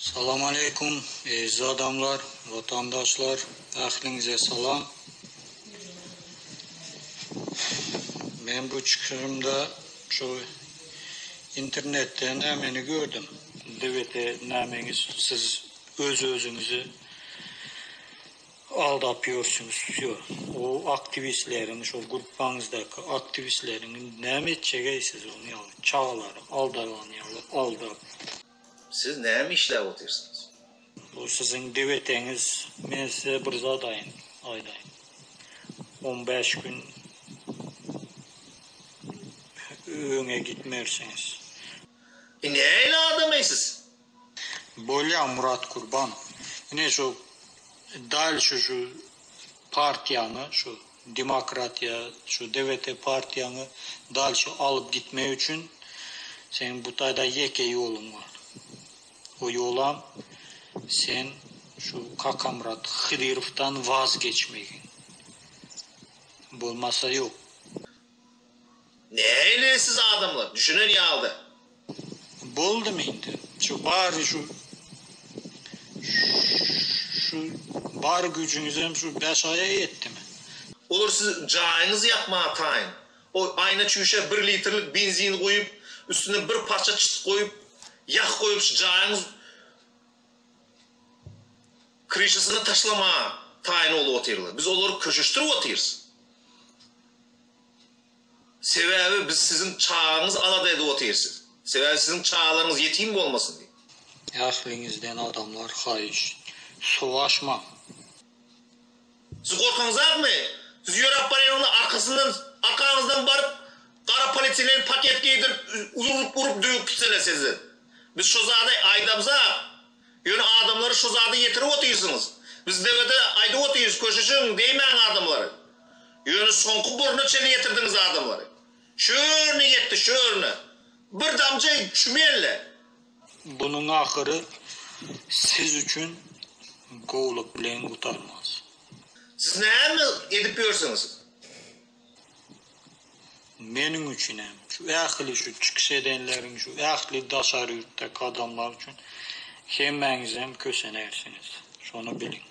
Salam aleýkum eziz adamlar watandaşlar ähliňize salam men bu çykyşymda şu internetde nämeni gördüm debete nämeňiz siz öz özüňizi aldap ýörsüňiz şu o aktiwistleriň şo gruppaňyzdaky aktiwistleriň indi näme etjegey siz ony ýaly çagalary aldalanýarlar aldap. Siz näme işläp otyrsyňyz? Bu siziň deweteňiz. Men size bir zat aýdaýyn. On bäş gün öňe gitmersiňiz. E nähili adam-eý siz? Bolýa Murat Gurban. Ine şu dal şu şu partiýany, şu Demokratiýa şu DVT partiýaňy dalşy alyp gitmek üçin seň bu taýda ýeke ýoluň bar. O ýolam sen şu Kakamyrat Hydyrowdan waz geçmegiň. Bolmasa ýok. Näile siz adamlar, düşünen ýalyda. Boldumy indi şu bary şu şu bar güjüňizem şu bäş aýa ýetdimi. Olar sizi jaýyňyzy ýakmaga taýyn. O aýna çüýşä bir litrlik benzin guýup, üstüne bir parça çyt goýup, ýah goýup şu jaýyňyz. Kryşasyna taşlamaga taýyn bolup otyrlar. Biz olary köşeşdirip otyrys. Sebäbi biz siziň çagaňyzy alada edip otyrys. Sebäbi siziň çagalaryňyz ýetim bolmasyn diýip. Ähliňizden adamlar haýyş. Suw aşmaň. Siz gorkaňyzakmy? Siz ýöräp barýaňyzda arkasyndan arkaňyzdan baryp gara polietilen paket geýdirip urup urup döwüp gitseler sizi. Biz şo zady aýdamzak. Ýöne adamlary şo zada ýetirip otyrsyňyz. Biz dewede aýdyp otyrys köşeşiň deýmäň adamlary. Ýöne soňky burna çenli ýetirdiňiz adamlary. Şörüne ýetdi şörüne. Bir damja çümeldi. Bunuň ahyry siz üçin gowluk bilen gutarmaz. Siz näme edip ýörsiňiz? Meniň üçin hem, şu ähli şu çykyş edenleriň, şu ähli daşary ýurtdaky adamlar üçin hemmäňizem kösenersiňiz. Şony biliň.